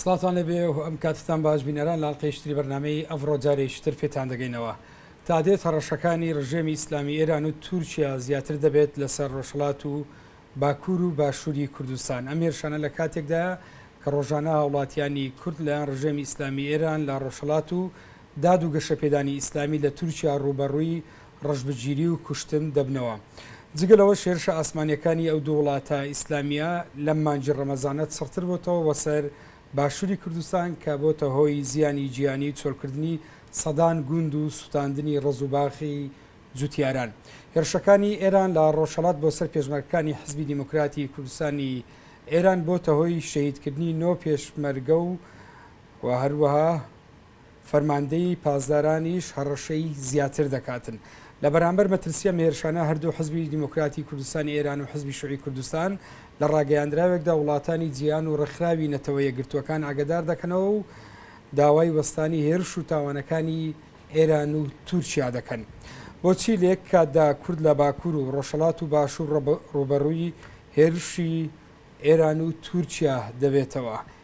سڵاتان لەبێ و ئەم کاتتان باش بینەران لاڵقەی شتری بەرنمەی ئەڤڕۆ جارێکی تر پێتان دەگەینەوە تا دێت هەڕەشەکانی ڕژێمی ئیسلامی ئێران و تورکیا زیاتر دەبێت لەسەر ڕۆژهڵات و باکوور و باشووری کوردستان ئەم هێرشانە لە کاتێکدا کە ڕۆژانە هاوڵاتیانی کورد لەیان ڕژێمی ئیسلامی ئێران لە ڕۆژهڵات و داد و گەشەپێدانی ئیسلامی لە تورکیا ڕوبەڕووی ڕەشبگیری و کوشتن دەبنەوە. جگە لەوەش هێرشە ئاسمانییەکانی ئەو دوو وڵاتە ئیسلامییە لەم مانگی ڕەمەزانە چڕتر بۆتەوە بۆ سەر باشووری کوردستان کە بۆتە هۆی زیانی گیانی و چۆڵکردنی سەدان گوند و سوتاندنی ڕەز و باخی جوتیاران. هێرشەکانی ئێران لە ڕۆژهەڵات بۆ سەر پێشمەرگەکانی حیزبی دیموکراتی کوردستانی ئێران بۆتە هۆی شەهیدکردنی نۆ پێشمەرگە و هەروەها فەرماندەیی پاسدارانیش هەڕەشەی زیاتر دەکاتن. لە بەرامبەر مەترسی ئەم هێرشانە هەردوو حزبی دیموکراتی کوردستانی ئێران و حزبی شوعی کوردستان لە ڕاگەیاندراوێکدا وڵاتانی جیهان و ڕێکخراوی نەتەوە یەکگرتووەکان ئاگەدار دەکەنەوە و داوای وەستانی هێرش و تاوانەکانی ئێران و تورکیا دەکەن. بۆچی لە یەک کاتدا کورد لە باکور و ڕۆژهەڵات و باشور ڕووبەڕووی هێرشی ئێران و تورکیا دەبێتەوە؟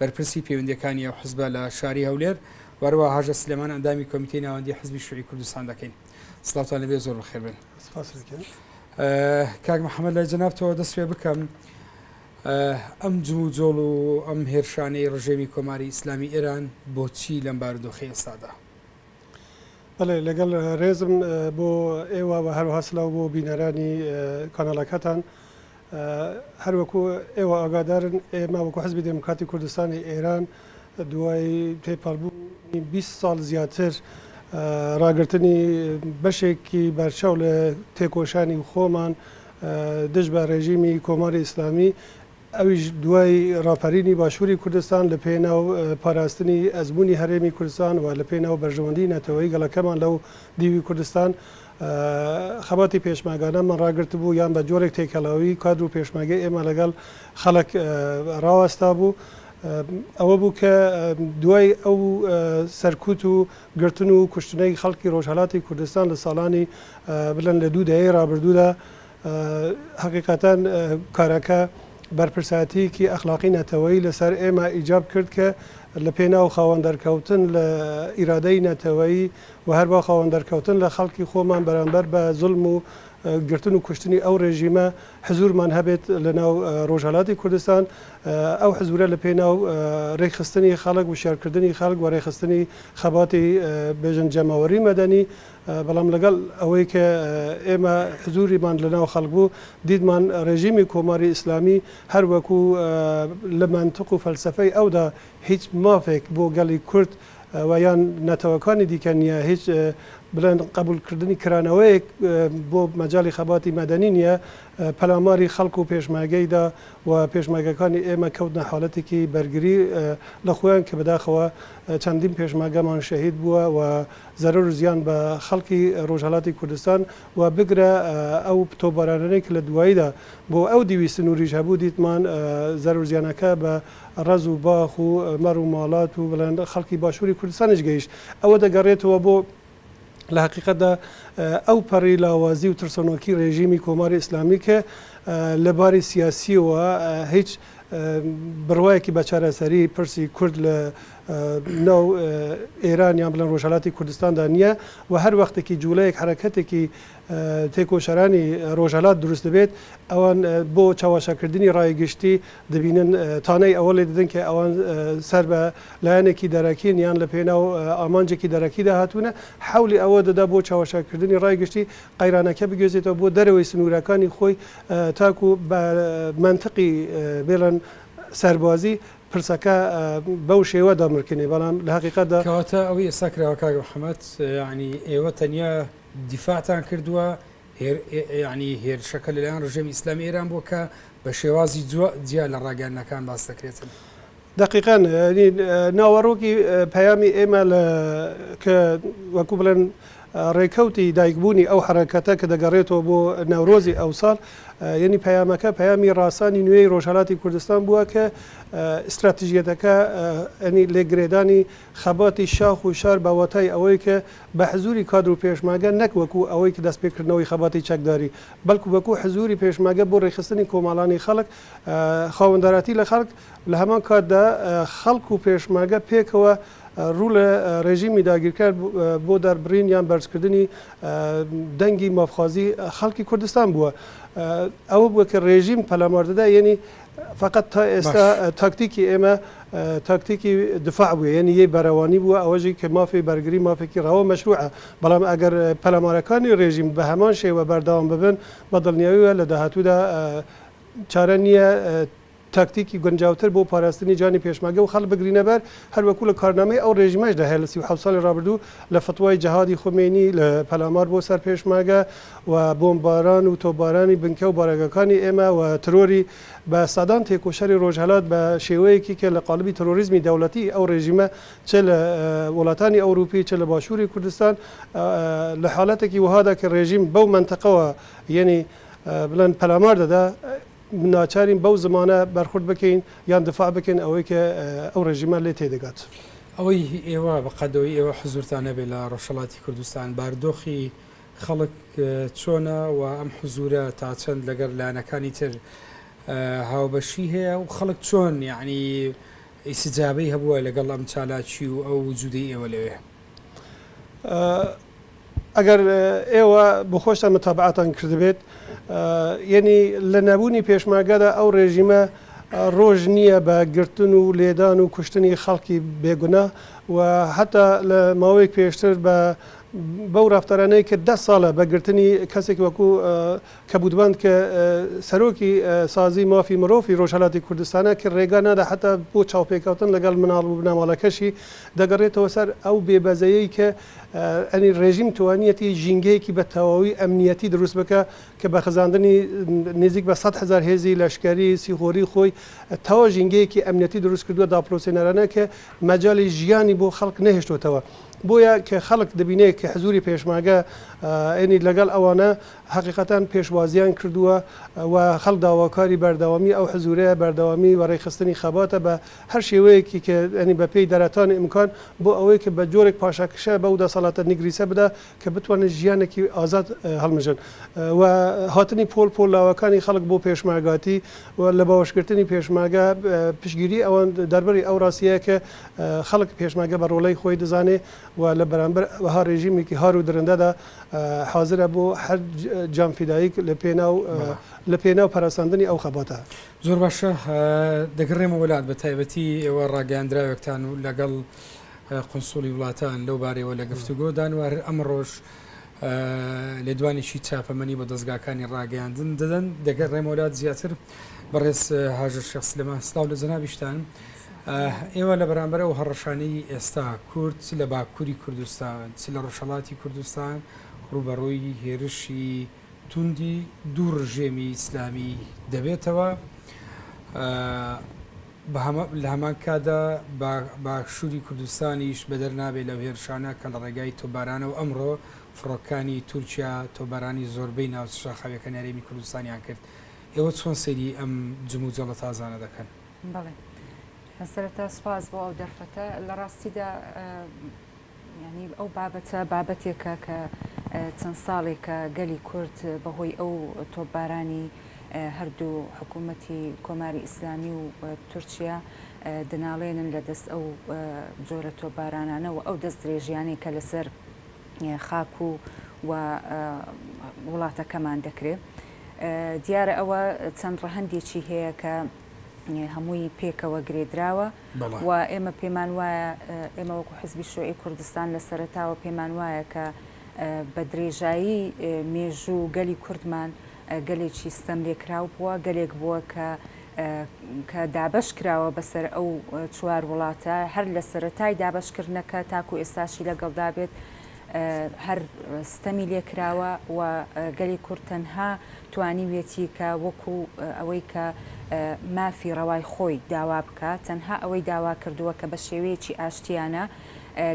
بەرپرسی پەیوەندییەکانی ئەو حزبە لە شاری هەولێر و هەروەها هاژە سلێمان ئەندامی کۆمیتەی ناوەندی حزبی شوعی کوردستان دەکەین سلاوتان لەبێ زۆر بەخێر بن کاک محەممەد لای جەنابتەوە دەست پێ بکەم ئەم جمو جۆڵ و ئەم هێرشانەی ڕژێمی کۆماری ئیسلامی ئێران بۆچی لەم بارودۆخی ئێستادا بەڵێ لەگەڵ رێزم بۆ ئێوە وە هەروەها سلاو بۆ بینەرانی کاناڵەکەتان هەر وەکو ئێوە ئاگادارن ئێمە وەکو حزبی دێموکراتی کوردستانی ئێران دوای تێپەڕبوونی 20 ساڵ زیاتر راگرتنی بەشێکی بەرچاو لە تێکۆشانی خۆمان دژ بە رێژیمی کۆماری ئیسلامی ئەویش دوای ڕاپەرینی باشووری کوردستان لە پێناو پاراستنی ئەزموونی هەرێمی کوردستان و لە پێناو بەرژەوەندیی نەتەوەیی گەڵەکەمان لەو دیوی کوردستان خەباتی پێشمەرگانەمان ڕاگرتبوو یان بە جۆرێک تێکەڵاویی کادر و پێشمەرگەی ئێمە لەگەڵ خەڵک ڕاوەستابوو ئەوە بوو کە دوای ئەو سەرکوت و گرتن و کوشتنەی خەڵکی ڕۆژهەڵاتی کوردستان لە ساڵانی بڵێن لە دوو دەیەی ڕابردوودا هەقیقەتەن کارەکە بەرپرسایەتیەکی ئەخلاقی نەتەوەیی لەسەر ئێمە ئیجاب کرد کە لە پێناو خاوەن دەرکەوتن لە ئیرادەی نەتەوەیی و هەر بە خاوەن دەرکەوتن لە خەڵکی خۆمان بەرامبەر بە زلم و گرتن و کوشتنی ئەو ڕێژیمە حزورمان هەبێت لە ناو ڕۆژهەلاتی کوردستان ئەو حزورە لە پێناو ڕێکخستنی خەڵک وشارکردنی خەڵک و ڕێخستنی خەباتی بێژن جەماوەری مەدەنی بەڵام لەگەڵ ئەوەی کە ئێمە حزووریمان لەناو خەڵک بوو، دیتمان ڕێژیمی کۆماری ئیسلامی هەر وەکوو لە مەنتق و فەلسەفەی ئەودا هیچ مافێک بۆ گەڵی کورد و یان نەتەوەکانی دیکە نییە، هیچ بڵێن قەبووڵکردنی کرانەوەیەک بۆ مەجاڵی خەباتی مەدەنی نییە، پەلاماری خەڵک و پێشمەرگەی دا و پێشمەرگەکانی ئێمە کەوتنە حاڵەتێکی بەرگری لە خۆیان کە بەداخەوە چەندین پێشمەرگەمان شەهید بووە و زەرەر و زیان بە خەڵکی ڕۆژهەڵاتی کوردستان و بگرە ئەو تۆپبارانانەی کە لە دواییدا بۆ ئەو دیوی سنووریش هەبوو دیتمان زەرەر و زیانەکە بە ڕەز و باخ و مەڕ و ماڵات و بڵێن خەڵکی باشووری کوردستانیش گەیشت. ئەوە دەگەڕێتەوە بۆ لە هەقیقەتدا ئەو پەڕی لاوازی و ترسەنۆکی ڕێژیمی کۆماری ئیسلامی کە لە باری سیاسییەوە هیچ بڕوایەکی بە چارەسەری پرسی کورد لە ناو ئێران یان بڵێن ڕۆژهەلاتی کوردستاندا نییە و هەر وەختێکی جووڵەیەک حەرەکەتێکی تێکۆشەرانی ڕۆژهەلات دروست دەبێت ئەوان بۆ چاواشاکردنی ڕای گشتی دەبینن تانەی ئەوە لێ دەدەن کە ئەوان سەر بە لایەنێکی دەرەکین یان لە پێناو ئامانجێکی دەرەکیدا هاتوونە حولی ئەوە دەدا بۆ چاواشاکردنی ڕای گشتی قەیرانەکە بگوێزێتەوە بۆ دەرەوەی سنوورەکانی خۆی تاکو بە مەنتقی بێڵن سەربازی پرسەکە بەو شێوە دەڕمرکێنێ بەڵام لە هەقیقەتدا. کەواتە ئەوەی ئێستا کراوە کاک محەمەد یەعنی ئێوە تەنیا دیفاعتان کردووە هێر یەعنی هێرشەکە لە لایەن ڕژێمی ئیسلامی ئێران بووە کە بە شێوازی جوا جیا لە ڕاگەیاندنەکان باس دەکرێتن. دەقیقەن یەعنی ناوەڕۆکی پەیامی ئێمە لە کە وەکوو بڵێن ڕێکەوتی دایکبوونی ئەو حەرەکەتە کە دەگەڕێتەوە بۆ نەورۆزی ئەوساڵ، یەنی پەیامەکە پەیامی ڕاسانی نوێی ڕۆژهەلاتی کوردستان بووە کە ئیستراتژیەتەکە یەنی لێک گرێدانی خەباتی شاخ و شار بە واتای ئەوەی کە بە حزووری کادر و پێشمەرگە نەک وەکوو ئەوەی کە دەستپێکردنەوەی خەباتی چەکداری بەڵکوو وەکوو حزووری پێشمەگە بۆ ڕێکخستنی کۆمەڵانی خەڵک خاوەنداراتی لە خەڵک لە هەمان کاتدا خەڵک و پێشمەرگە پێکەوە ڕوو لە ڕێژیمی داگیرکەر بۆ دەربڕین یان بەرزکردنی دەنگی مافخوازی خەڵکی کوردستان بووە ئەوە بووە کە ڕێژیم پەلاماردەدا یعنی فقط تا ئێستا تاکتیکی ئێمە تاکتیکی دفاع بووە یعنی یەی بەرەوانی بووە ئەوەژی کە مافی بەرگری مافێکی ڕەوە مەشروعە بەڵام ئەگەر پەلامارەکانی ڕێژیم بە هەمان شێوە بەرداوام ببن بە دڵنیاییە لە داهاتوودا چارە نییە تاکتیکی گونجاوتر بۆ پاراستنی جانی پێشمەرگە و خەڵک بگرینە بەر، هەر وەکوو لە کارنامەی ئەو ڕێژیمەشدا هەیە لە سی و حەوت ساڵی ڕابردوو لە فتوای جەهادی خومەینی لە پەلامار بۆ سەر پێشمەرگە و بۆمبباران و تۆپبارانی بنکە و بارەگاکانی ئێمە و ترۆری بە سەدان تێکۆشەری ڕۆژهەلات بە شێوەیەکی کە لە قاڵبی ترۆریزمی دەوڵەتی ئەو ڕێژیمە چ لە وڵاتانی ئەوروپی چ لە باشووری کوردستان لە حالەتێکی وەهادا کە ڕێژیم بەو مەنتقەوە یەنی بڵێن پەلامار دەدا ناچارین بەو زمانە بەرخورد بکەین یان دفاع بکەین ئەوەی کە ئەو ڕێژیمە لێ تێدەگات. ئەوەی ئێوە بە قەدەوەی ئێوە حزوورتان هەبێت لە ڕۆژهەڵاتی کوردستان، بارودۆخی خەڵک چۆنە و ئەم حزوورە تا چەند لەگەڵ لایەنەکانی تر هاوبەشی هەیە و خەڵک چۆن یەعنی ئیستجابەی هەبووە لەگەڵ ئەم چالاکی و ئەو وجوودەی ئێوە لەوێ؟ ئەگەر ئێوە بۆ خۆشتان متابەعەتان کردبێت یەنی لە نەبوونی پێشمەرگەدا ئەو ڕێژیمە ڕۆژ نییە بە گرتن و لێدان و کوشتنی خەڵکی بێگونا و هەتا لە ماوەیەک پێشتر بە بەو ڕفتارانەی کە دە ساڵە بە گرتنی کەسێک وەکوو کەبوتبان ک سەرۆکی سازی مافی مرۆفی رۆژهەلاتی کوردستانە ک رێگا نادا حەتا بۆ چاوپێکەوتن لەگەڵ مناڵ وبنەماڵەکەشی، دەگەڕێتەوە سەر ئەو بێ بەزەیەی ک ئەنی رێژیم توانیەتی ژینگەیەکی بە تەواوی ئەمنیەتی دروست بکا ک بە خزاندنی نیزیک بە سەد هەزار هێزی لەشکەری سیخۆری خۆی تەوا ژینگەیەکی ئەمنیەتی دروست کردوە داپڵۆسێنەرانە ک مەجالی ژیانی بۆ خەڵک نەهێشتۆتەوە بۆیە ک خەڵک دبینێ ک حزوری پێشمەرگە ئەنی لەگەڵ ئەوانە هەقیقەتەن پێشوازیان کردووە و خەڵک داواکاری بەردەوامی ئەو حزورەیە، بەردەوامی وەڕێخستنی خەباتە بە هەر شێوەیەکی کە یانی بە پێی دەرەتان ئیمکان بۆ ئەوەی کە بە جۆرێک پاشەکشە بەو دەسەڵاتە نگریسە بدا کە بتوانن ژیانێکی ئازاد هەڵمژن و هاتنی پۆل پۆل لاوەکانی خەڵک بۆ پێشمەرگاتی و لە باوەشگرتنی پێشمەرگە پشتگیری ئەوان دەربری ئەو ڕاستییە کە خەڵک پێشمەرگە بە ڕۆڵەی خۆی دەزانێ و لە بەرامبەر وەها ڕێژیمێکی هار و درندەدا حازرە بۆ هەر جام فیداییک لە پێناو لە پێناو پەرەسەندنی ئەو خەباتە. زۆر باشە دەگەڕێمەوە لات بە تایبەتی ئێوە ڕاگەیاندراوێکتان و لەگەڵ قونسوڵی وڵاتان لەو بارەیەوە لە گفتوگۆ دان و هەر ئەمڕۆژ لێدوانێکی چاپەمەنی بۆ دەزگاکانی ڕاگەیاندن دەدەن دەگەڕێمەوە لات زیاتر بەڕێز هاژە شێخ سلێمان سڵاو لە جەنابیشتان. ئێوە لە بەرامبەر ئەو هەڕەشانەی ئێستا کورد چ لە باکووری کوردستان چ لە ڕۆژهەڵاتی کوردستان ڕووبەڕووی هێرشی توندی دوو ڕژێمی ئیسلامی دەبێتەوە لە هەمان کاتدا باشووری کوردستانیش بەدەر نابێت لەو هێرشانە کە لە ڕێگای تۆبارانە و ئەمڕۆ فڕۆکانی تورکیا تۆبارانی زۆربەی ناوچە شاخاویەکانی هەرێمی کوردستانیان کرد ئێوە چۆن سەیری ئەم جموجەڵە تازانە دەکەن؟ بەڵێ سەرەتا سوپاس بۆ ئەو دەرفەتە لە ڕاستیدا ینی ئەو بابەتە بابەتێکە کە چەند ساڵێکە گەلی کورد بەهۆی ئەو تۆپبارانی هەردوو حکوومەتی کۆماری ئیسلامی و تورکیا دناڵێنن لە دەست ئەو جۆرە تۆپبارانانە و ئەو دەست درێژیانەی کە لەسەر خاک و و وڵاتەکەمان دەکرێت. دیارە ئەوە چەند ڕەهندێکی هەیە کە هەمووی پێکەوە گرێدراوە و ئێمە پێمان وایە ئێمە وەکو حزبی شوعی کوردستان لە سەرتاوە پێمان وایە کە بە درێژایی مێژوو گەلی کوردمان گەلێکی ستەم لێکراو بووە گەلێک بووە کە کە دابش کراوە بەسەر ئەو چوار وڵاتە هەر لە سەرەتای دابشکردنەکە تاکو ئێستاشی لەگەڵدا بێت هەر ستەمی لێ کراوە و گەلی کورد تەنها توانیویەتی کە وەکو ئەوەی کە مافی ڕەوای خۆی داوا بکا، تەنها ئەوەی داوا کردووە کە بە شێوەیەکی ئاشتیانە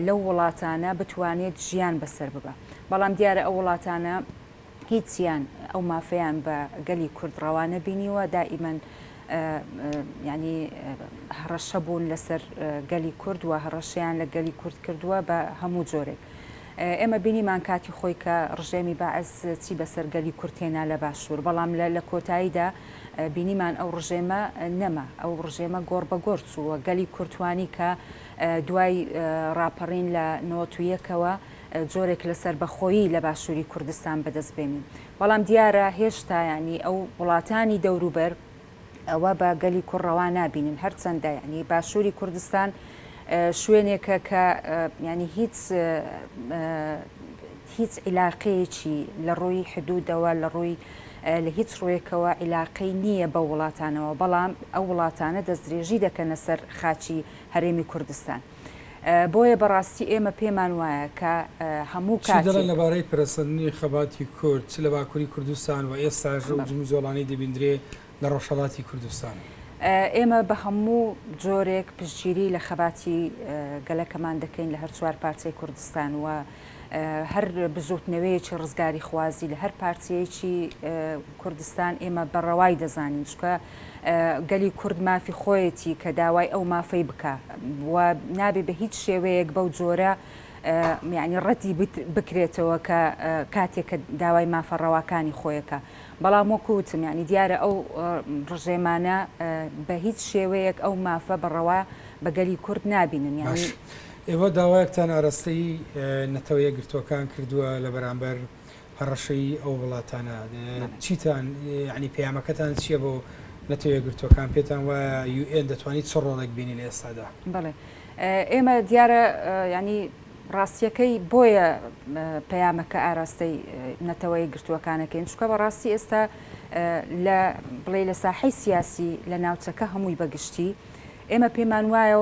لەو وڵاتانە بتوانێت ژیان بەسەر ببا. بەڵام دیارە ئەو وڵاتانە. هیچیان ئەو مافەیان بە گەلی کورد ڕەوا نەبینیوە، دائیمەن یانی هەڕەشە بوون لەسەر گەلی کورد و هەڕەشەیان لە گەلی کورد کردووە بە هەموو جۆرێک. ئێمە بینیمان کاتی خۆی کە ڕژێمی بەعس چی بەسەر گەلی کورد هێنا لە باشوور، بەڵام لە لە کۆتاییدا بینیمان ئەو ڕژێمە نەما، ئەو ڕژێمە گۆڕ بە گۆڕ چوو و گەلی کورد توانی کە دوای ڕاپەڕین لە نەوەت و یەکەوە، جۆرێک لە سەربەخۆیی لە باشووری کوردستان بەدەست بێنین. بەڵام دیارە هێشتا یانی ئەو وڵاتانی دەوروبەر ئەوە بە گەلی کورد ڕەوا نابینن. هەرچەندە یانی باشووری کوردستان شوێنێکە کە یانی هیچ هیچ عیلاقەیەکی لە ڕووی حدوودەوە لە ڕووی لە هیچ ڕوویەکەوە عیلاقەی نییە بە وڵاتانەوە بەڵام ئەو وڵاتانە دەستدرێژی دەکەنە سەر خاچی هەرێمی کوردستان. بۆیە بەڕاستی ئێمە پێمان وایە کە هەموو کاتێک. چی دەڵێن لەبارەی پەرەسەندنی خەباتی کورد چ لە باکوری کوردستان و ئێستاش ئەو جموجۆڵانەی دەبیندرێ لە ڕۆژهەڵاتی کوردستان؟ ئێمە بە هەموو جۆرێک پشتگیری لە خەباتی گەلەکەمان دەکەین لە هەر چوار پارچەی کوردستان و، هەر بزوتنەوەیەکی ڕزگاریخوازی لە هەر پارچەیەکی کوردستان ئێمە بە ڕەوای دەزانین چکە گەلی کورد مافی خۆیەتی کە داوای ئەو مافەی بکە و نابێ بە هیچ شێوەیەک بەو جۆرە میانی ڕەتی بکرێتەوە کە کاتێکە داوای مافە ڕەواکانی خۆیەکە بەڵام وەکوتم ینی دیارە ئەو ڕژێمانە بە هیچ شێوەیەک ئەو مافە بەڕەوا بەگەلی کورد نابینن یاش. ئێوە داوایەکتان ئاراستەی نەتەوە یەکگرتووەکان کردووە لە بەرامبەر هەڕەشەی ئەو وڵاتانە، چیتان یانی پەیامەکەتان چییە بۆ نەتەوە یەکگرتووەکان؟ پێتان وایە یو ئێن دەتوانیت چ ڕۆڵێک بینی لە ئێستادا؟ بەڵێ ئێمە دیارە یانی ڕاستیەکەی بۆیە پەیامەکە ئاراستەی نەتەوە یەکگرتووەکانەکەین چونکە بەڕاستی ئێستا لە بڵێ لە ساحەی سیاسی لە ناوچەکە هەمووی بەگشتی، ئێمە پێمان وایە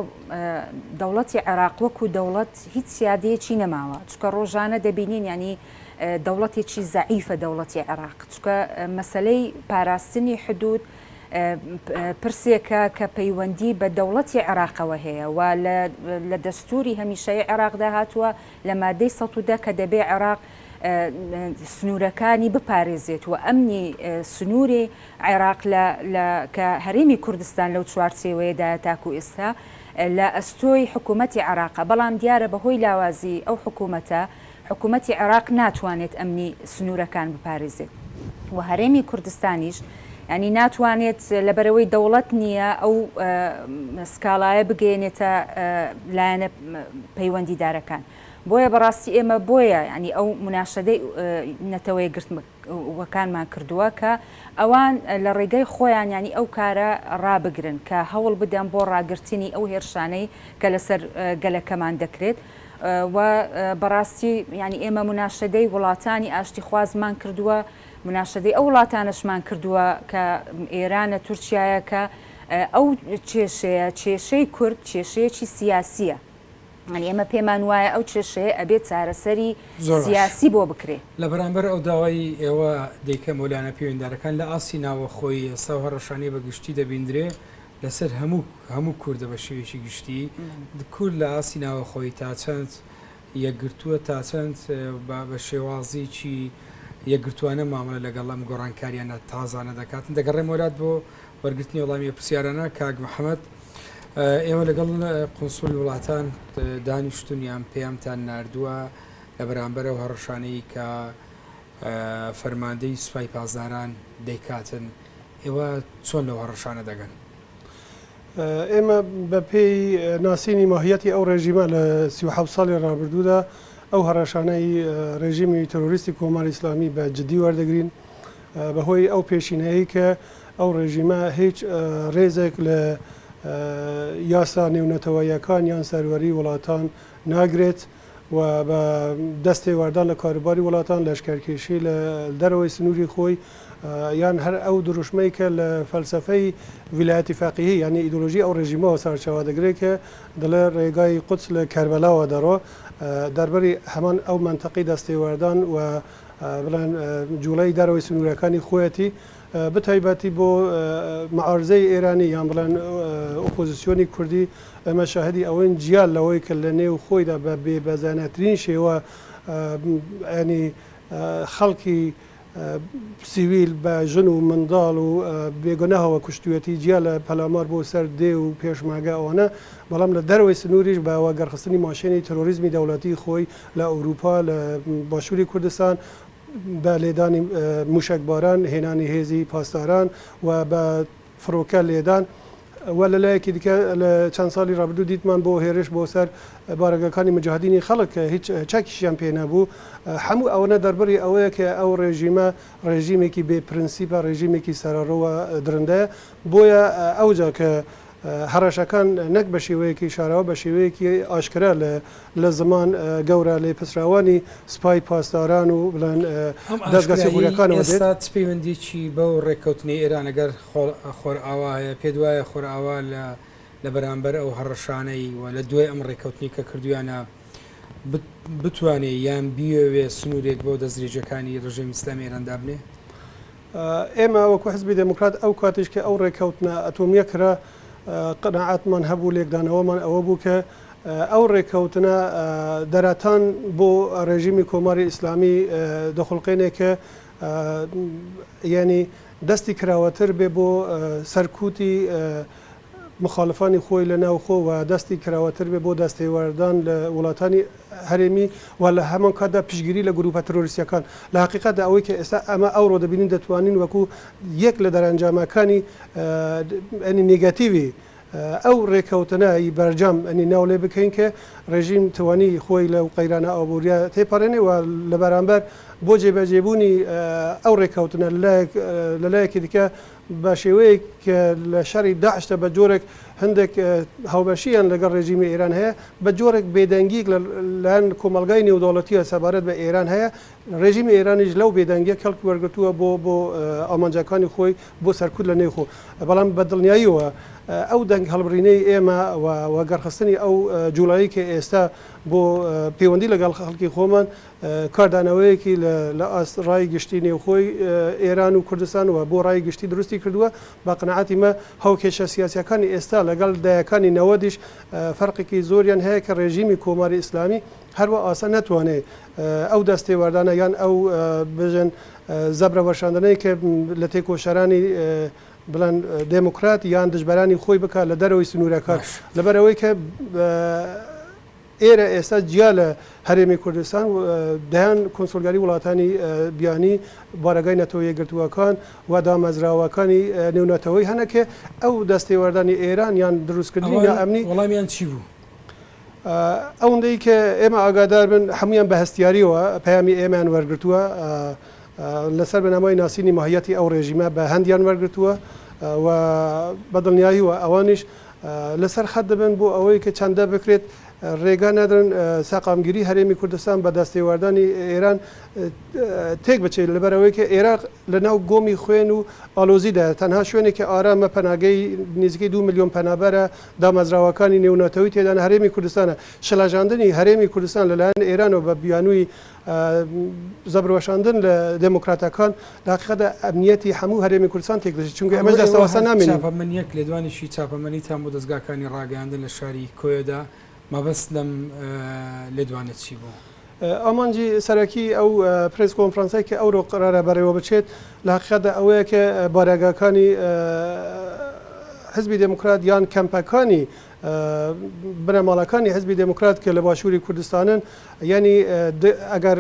دەوڵەتی عێراق وەکو دەوڵەت هیچ سیادەیەکی نەماوە چکە ڕۆژانە دەبینین ینی دەوڵەتێکی زەعیفە دەوڵەتی عێراق چکە مەسلەی پاراستنی حدود پرسێکە کە پەیوەندی بە دەوڵەتی عێراقەوە هەیە و لە دەستوری هەمیشەی عێراقدا هاتووە لە مادەی سەدە کە دەبێ عێراق سنوورەکانی بپارێزێت و ئەمنی سنووری عێراق لە لە کە هەرێمی کوردستان لەو چوارچێوەیەدایە تاکوو ئێستا لە ئەستۆی حکوومەتی عێراقە، بەڵام دیارە بە هۆی لاوازیی ئەو حکوومەتە، حکوومەتی عێراق ناتوانێت ئەمنی سنوورەکان بپارێزێت و هەرێمی کوردستانیش یانی ناتوانێت لەبەرئەوەی دەوڵەت نییە ئەو سکاڵایە بگەیەنێتە لایەنە پەیوەندیدارەکان. بۆیە بەڕاستی ئێمە بۆیە یانی ئەو مناشەدەی نەتەوە یەکگرتووە، وەکانمان کردووە کە ئەوان لە ڕێگای خۆیان یانی ئەو کارە ڕابگرن کە هەوڵ بدەن بۆ ڕاگرتنی ئەو هێرشانەی کە لەسەر گەلەکەمان دەکرێت و بەڕاستی یانی ئێمە مناشەدەی وڵاتانی ئاشتیخوازمان کردووە مناشەدەی ئەو وڵاتانەشمان کردووە کە ئێرانە تورکیایە کە ئەو کێشەیە کێشەی کورد کێشەیەکی سیاسیە. ئێمە پێمان وایە ئەو کێشەیە ئەبێ چارەسەری سیاسی بۆ بکرێ. لە بەرامبەر ئەو داوای ئێوە دەیکەم و لایەنە پێویندارەکان لە ئاستی ناوەخۆی ئێستا و هەڕەشانەی بە گشتی دەبیندرێ لە سەر هەموو هەموو کوردە بە شێوەیەکی گشتی کورد لە ئاستی ناوەخۆی تا چەند یەکگرتووە تا چەند با بە شێوازیکی یەکگرتووانە مامەڵە لەگەڵ ئەم گۆڕانکاریانە تازانە دەکات؟ دەگەڕێمەوە لات بۆ وەرگرتنی وەڵامی ئەو پرسیارانە کاک محمد ئێوە لەگەڵ قونسولی وڵاتان دانیشتون یان پەیامتان ناردووە لە بەرامبەر ئەو هەڕەشانەی کە فەرماندەی سوپای پاسداران دەیکاتن ئێوە چۆن لەو هەڕەشانە دەگەن؟ ئێمە بە پێی ناسینی ماهیەتی ئەو ڕێژیمە لە سی و حەوت ساڵی ڕابردوودا ئەو هەڕەشانەی ڕێژیمی ترۆریستی کۆماری ئیسلامی بە جدی وەردەگرین بەهۆی ئەو پێشینەیەی کە ئەو ڕێژیمە هیچ ڕێزێک لە یاسا نێونەتەوەییەکان یان سەروەری وڵاتان ناگرێت و بە دەست تێوەردان لە کاروباری وڵاتان لەشکەرکێشی لە دەرەوەی سنووری خۆی یان هەر ئەو دروشمەی کە لە فەلسەفەی ویلایەتی فەقیهی یعنی ئیدۆلۆژی ئەو ڕێژیمەوە سەرچاوە دەگرێت کە دەڵێ ڕێگای قودس لە کەربەلاوە دەڕۆ دەربەری هەمان ئەو مەنتەقی دەست تێوەردان و بڵێن جوڵەی دەرەوەی سنوورەکانی خۆیەتی بەتایبەتی بۆ معارزەی ئێرانی یان بڵێن ئۆپۆزیسیۆنی کوردی ئەمە شاهدی ئەوەین جیا لەوەی کە لە نێو خۆیدا بە بێ بەزانەترین شێوە ئەنی خەڵکی سیویل بە ژن و منداڵ و بێگوناهەوە کوشتوێتی جیا لە پەلامار بۆ سەر دێ و پێشماگە ئەوانە بەڵام لە دەرەوەی سنووریش بە وەگەڕخستنی ماشێنی تەرۆریزمی دەوڵەتی خۆی لە ئەوروپا لە باشوری کوردستان بە لێدانی موشەک باران هێنانی هێزی پاسداران و بە فڕۆکە لێدان و لە لایەکی دیکە لە چەند ساڵی ڕابردوو دیتمان بۆ هێرش بۆ سەر بارەگاکانی موجاهدینی خەڵک کە هیچ چەکیشیان پێ نەبوو هەموو ئەوەنە دەربڕی ئەوەیە کە ئەو ڕێژیمە ڕێژیمێکی بێ پرنسیپە ڕێژیمێکی سەرەڕۆ و درندەیە بۆیە ئەوجا کە هەڕەشەکان نەک بە شێوەیەکی شاراوە بە شێوەیەکی ئاشکرا لە لە زمان گەورە لێپرسراوانی سپای پاسداران و بڵێن ئەم دەزگا ئاشکرایی سیخوورەکانەوە دێت. ئێستا چ پەیوەندییەکی بەو ڕێککەوتنەی ئێران لەگەر خۆرئاوا هەیە؟ پێت وایە خۆرئاوا لە لە بەرامبەر ئەو هەڕەشانەی و لە دوای ئەم ڕێککەوتنەی کە کردوویانە بت بتوانێ یان بیەوێ سنوورێک بۆ دەستدرێژییەکانی ڕژێمی ئیسلامیی ئێران دابنێ؟ ئێمە وەکو حزبی دێموکرات ئەو کاتیش کە ئەو ڕێککەوتنە ئەتۆمییە کرا، قەناعەتمان هەبوو، لێکدانەوەمان ئەوە بوو کە ئەو ڕێککەوتنە دەرەتان بۆ ڕێژیمی کۆماری ئیسلامی دەخوڵقێنێ کە یانی دەستی کراوەتر بێ بۆ سەرکووتی مخالفانی خۆی لە ناوخۆ و دەستی کراوەتر بێت بۆ دەستێوەردان لە وڵاتانی هەرێمی و لە هەمانکاتدا پشتگیری لە گرووپە ترۆریستییەکان. لە هەقیقەتدا ئەوەی کە ئێستا ئەمە ئەوڕۆ دەبینین دەتوانین وەکوو یەک لە دەرەنجامەکانی نیگەتیوی ئەو ڕێککەوتنە ی بەرجام ناو لێ بکەین کە ڕێژیم توانی خۆی لەو قەیرانە ئابوورییە تێپەڕێنێ و لە بەرامبەر بۆ جێبەجێبوونی ئەو ڕێککەوتنە لە لایەکی دیکە بە شێوەیەک کە لە شەڕی داعشدا بە جۆرێک هەندێک هاوبەشییان لەگەڵ ڕێژیمی ئێران هەیە، بە جۆرێک بێدەنگییەک لە لایەن کۆمەڵگای نێودەوڵەتییەوە سەبارەت بە ئێران هەیە. ڕێژیمی ئێرانیش لەو بێدەنگییە کەڵکی وەرگرتووە بۆ بۆ ئامانجەکانی خۆی بۆ سەرکوت لە نێوخۆ. بەڵام بە دڵنیاییەوە ئەو دەنگ هەڵبڕینەی ئێمە و وەگەڕخستنی ئەو جووڵەیەی کە ئێستا بۆ پێوەندی لەگەڵ خەڵکی خۆمان، کاردانەوەیەکی لە ئاست ڕای گشتی نێوخۆی ئێران و کوردستان و بۆ ڕای گشتی دروستی کردووە، بە قەناعەتی مە هاوکێشە سیاسییەکانی ئێستا لەگەڵ دەیەکانی نەوەدیش فەرقێکی زۆریان هەیە کە ڕێژیمی کۆماری ئیسلامی هەروا ئاسان نەتوانێ ئەو دەستێوەردانە یان ئەو بژن زەبرە وەشاندنەی کە لە تێکۆشەرانی بڵێن دێموکرات یان دژبەرانی خۆی بکا لە دەرەوەی سنوورەکان لەبەر ئەوەی کە ئێرە ئێستا جیا لە هەرێمی کوردستان و دەیان کونسوڵگەری وڵاتانی بیانی بارەگای نەتەوە یەکگرتووەکان و دامەزراوەکانی نێونەتەوەی هەنە کە ئەو دەستێوەردانی ئێران یان دروستکردنی ئەوان نائەمنی وەڵامیان چی بوو؟ ئەوەندەی کە ئێمە ئاگادار بن هەموویان بە هەستیارییەوە پەیامی ئێمەیان وەرگرتووە لەسەر بنەمای ناسینی ماهییەتی ئەو ڕێژیمە بە هەندیان وەرگرتووە و بە دڵنیاییەوە ئەوانیش لەسەر خەت دەبن بۆ ئەوەی کە چەندە بکرێت رێگا نادرن سەقامگیری هەرێمی کوردستان بە دەستێواردانی ئێران تێک بچێت لەبەر ئەوەی کە ئێراق لە ناو گۆمی خوێن و ئالۆزی دایە تەنها شوێنێکی ئارامە پەناگەی نزیکەی دوو ملیۆن پەنابەرە دامەزراوەکانی نێوناتەوەی تێدانە هەرێمی کوردستانە شڵەژاندنی هەرێمی کوردستان لەلایەن ئێرانەوە بە بیانووی زەبر وەشاندن لە دێمۆکراتەکان لە هەقیقەتدا ئەمنییەتی هەموو هەرێمی کوردستان تێک دەچێت، چونکە ئەمەش دەست لەوەستا نامێنین. چاپە من یەک لێدوانێکی چاپەمەنیتان بۆ دەزگاکانی ڕاگەیاندن لە شاری کۆیە دا، مەبەست لەم لێدوانە چی بوو؟ ئامانجی سەرەکیی ئەو پرێس کۆنفرانسەی کە ئەوڕۆ قەرارە بەڕێوە بچێت، لە هەقیقەتدا ئەوەیە کە بارەگاکانی حیزبی دێمۆکرات یان کەمپەکانی، بنەماڵەکانی حیزبی دێموکرات کە لە باشووری کوردستانن یانی د ئەگەر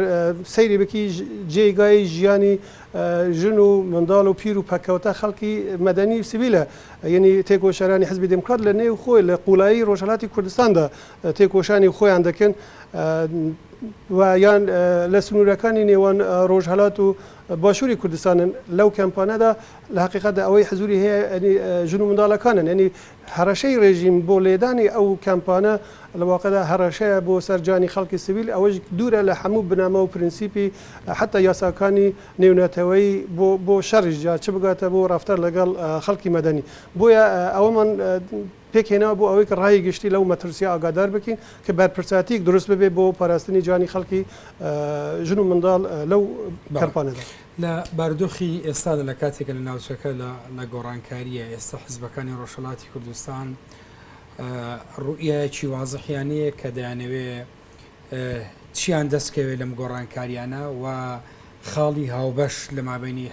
سەیری بکی جێگای ژیانی ژن و منداڵ و پیر و پەککەوتە خەڵکی مەدەنی و سڤیلە یانی تێکۆشەرانی حیزبی دێموکرات لە نێو خۆی لە قووڵایی ڕۆژهەڵاتی کوردستاندا تێکۆشانی خۆیان دەکەن و یان لە سنوورەکانی نێوان ڕۆژهەڵات و باشووری کوردستانن لەو کەمپانەدا لە حەقیقەتدا ئەوەی حزوری هەیە یانی ژن و منداڵەکانن یانی هەڕەشەی ڕێژیم بۆ لێدانی ئەو کامپانە لە واقعدا هەڕەشەیە بۆ سەر جانی خەڵکی سڤیل، ئەوەش دوورە لە هەموو بنەما و پرنسیپی حەتا یاساکانی نێونەتەوەیی بۆ بۆ شەڕیش جا چ بگاتە بۆ ڕافتار لەگەڵ خەڵکی مەدەنی. بۆیە ئەوەمان پێک هێناوە بۆ ئەوەی کە ڕای گشتی لەو مەترسیە ئاگادار بکەین کە بەرپرساتیەک دروست ببێت بۆ پاراستنی جانی خەڵکی ژن و منداڵ لەو کامپانەدا. لە بارودۆخی ئێستادا لە کاتێکە لە ناوچەکە لە لە گۆڕانکاریە، ئێستا حزبەکانی ڕۆژهەڵاتی کوردستان ڕوئیایەکی وازحیان نیە کە دەیانەوێ چیان دەستکەوێت لەم گۆڕانکاریانە و خاڵی هاوبەش لە مابینی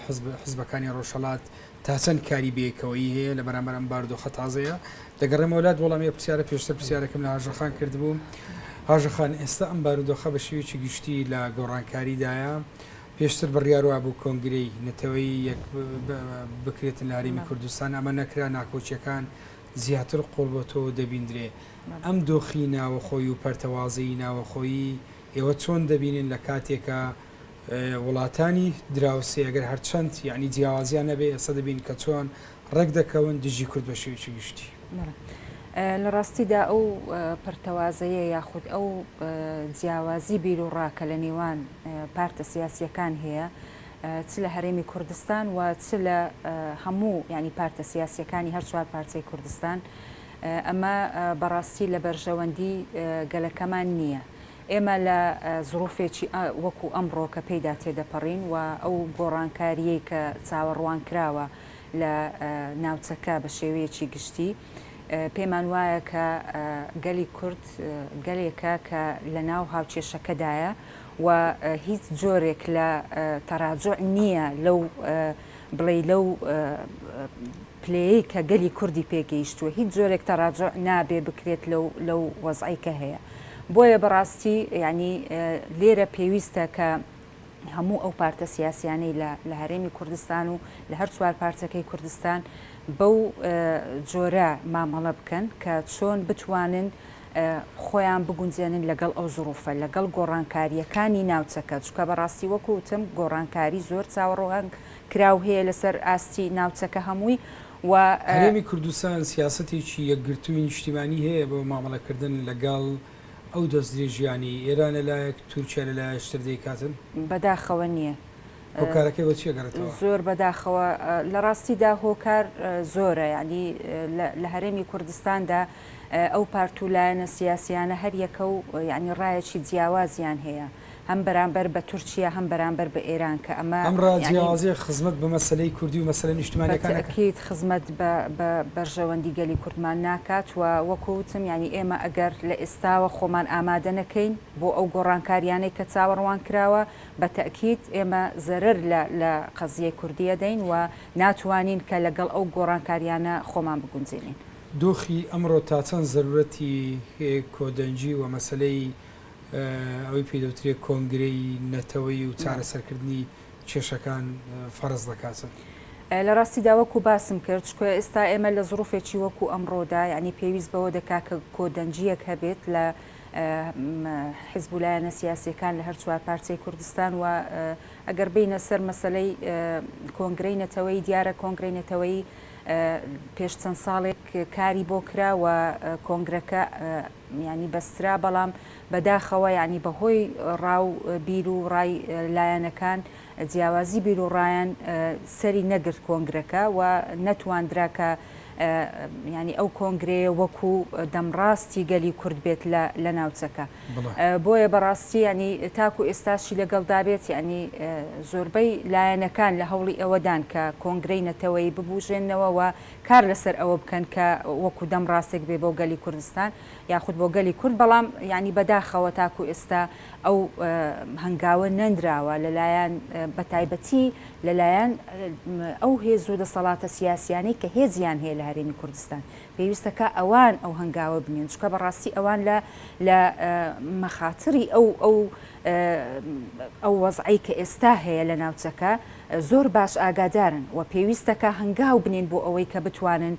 حزبەکانی ڕۆژهڵات تا چەند کاری بێکەوەی هەیە لە بەرامبەر ئەم باردۆخە تازەیە دەگەڕێمەوەلات وەڵامی پرسیارە پێشتر پرسیارەکەم لە هاژەخان کردبوو هاژەخان ئێستا ئەم بارودۆخە بە شێوێکی گشتی لە گۆڕانکاریدایە پێشتر بڕیار وابوو کۆنگرەی نەتەوەیی یەک بکرێت لە هەرێمی کوردستان، ئەمە نەکرا، ناکۆکییەکان زیاتر قوڵبۆتەوەو دەبیندرێ ئەم دۆخی ناوەخۆی و پەرتەوازەیی ناوەخۆیی ئێوە چۆن دەبینن لە کاتێکا وڵاتانی دراوسێ ئەگەر هەرچەند یەعنی جیاوازیان نەبێ ئێستا دەبین کە چۆن ڕێکدەکەون دژی کورد بە شێوەیەکی گشتی. لە ڕاستیدا ئەو پەرتەوازەیە یاخود ئەو جیاوازی بیروڕا کە لە نێوان پارتە سیاسییەکان هەیە چ لە هەرێمی کوردستان و چ لە هەموو یعنی پارتە سیاسییەکانی هەر چوار پارچەی کوردستان ئەمە بەڕاستی لە بەرژەوەندی گەلەکەمان نییە. ئێمە لە زڕوفێکی وەکو ئەمڕۆ کە پێیدا تێدەپەڕین و ئەو گۆڕانکاریەی کە چاوەڕوان کراوە، لە ناوچەکە بە شێوەیەکی گشتی، پێمان وایە کە گەلی کورد گەلێکە کە لە ناو هاوکێشەکەدایە و هیچ جۆرێک لە تەراجوع نییە لەو بڵێی لەو پلەیەی کە گەلی کوردی پێ گەیشتووە هیچ جۆرێک تەراجوع نابێ بکرێت لەو لەو وەزعەی کە هەیە بۆیە بەڕاستی یانی لێرە پێویستە کە هەموو ئەو پارتە سیاسیانەی لە هەرێمی کوردستان و لە هەر چوار پارچەکەی کوردستان بەو جۆرە مامەڵە بکەن کە چۆن بتوانن خۆیان بگونجێنن لەگەڵ ئەو زروفە لەگەڵ گۆڕانکاریەکانی ناوچەکە چکە بەڕاستی وەکوتم گۆڕانکاری زۆر چاوەڕۆهنگ کراو هەیە لەسەر ئاستی ناوچەکە هەمووی و هەرێمی کوردستان سیاستێکی یەکگرتووی نیشتیمانی هەیە بۆ مامەڵەکردن لەگەڵ ئەو دەستدرێژیانەی ئێران لەلایەک، تورکیا لەلایەش تر دەیکاتن؟ بەداخەوە نییە. هۆکارەکەی بە چی ئەگەڕێتەوە؟ زۆر بەداخەوە. لە ڕاستیدا هۆکار زۆرە. یانی لە هەرێمی کوردستاندا ئەو پارت و لایەنە سیاسییانە هەر یەکە و یانی ڕایەکی جیاوازیان هەیە. هەم بەرامبەر بە تورکیا هەم بەرامبەر بە ئێران کە ئەمە ئەم ڕا یەعنی جیاوازیە خزمەت بە مەسەلەی کوردی و مەسەلە نیشتمانیەکان نەکات. بەتئکید خزمەت بە بە بەرژەوەندی گەلی کوردمان ناکات و وەکو وتم یەعنی ئێمە ئەگەر لە ئێستاوە خۆمان ئامادە نەکەین بۆ ئەو گۆڕانکاریانەی کە چاوەڕوان کراوە بە تئکید ئێمە زەرەر لە لە قەزیەی کوردی ئەدەین و ناتوانین کە لە گەڵ ئەو گۆڕانکاریانە خۆمان بگونجێنین. دۆخی ئەمڕۆ تا چەند زەرورەتی کۆدەنگی و مەسەلەی ئەوەی پێی دەوترێت کۆنگرەی نەتەوەیی و چارەسەرکردنی کێشەکان فەرز دەکاتن. لە ڕاستیدا وەکو باسم کرد چکۆ ئێستا ئێمە لە زڕوفێکی وەکو ئەمڕۆدا یعنی پێویست بەوە دەکا کە کۆدەنگیەک هەبێت لە حزب و لایەنە سیاسیەکان لە هەر چوار پارچەی کوردستان و ئەگەر بینە سەر مەسلەی کۆنگرەی نەتەوەی دیارە کۆنگرەی نەتەوەی پێش چەند ساڵێک کاری بۆ کرا و کۆنگرەکە یانی بەسترا بەڵام بەداخەوە یانی بەهۆی ڕا و بیر و ڕای لایەنەکان جیاوازی بیر و ڕایان سەری نەگرت کۆنگرەکە و نەتواندرا کە یانی ئەو کۆنگرەیە وەکو دەمڕاستی گەلی کورد بێت لە ناوچەکە بۆیە بەڕاستی ینی تاکو ئێستاشی لەگەڵدابێت ینی زۆربەی لایەنەکان لە هەوڵی ئەوەدان کە کۆنگرەی نەتەوەی ببوژێنەوە و کار لەسەر ئەوە بکەن کە وەکو دەم ڕاستێک بێ بۆ گەلی کوردستان یاخود بۆ گەلی کورد بەڵام یانی بەداخەوە تاکو ئێستا ئەو هەنگاوە نەنراوە لەلایەن بەتایبەتی لەلایەن ئەو هێز و دەسەڵاتە سیاسیانەی کە هێزیان هەیە لە هەرێمی کوردستان پێویستە کە ئەوان ئەو هەنگاوە بنێن چونکە بەڕاستی ئەوان لە لە مەخاتری ئەو ئەو ئەو وەزعەی کە ئێستا هەیە لە ناوچەکە زۆر باش ئاگادارن و پێویستە کە هەنگاو بنێن بۆ ئەوەی کە بتوانن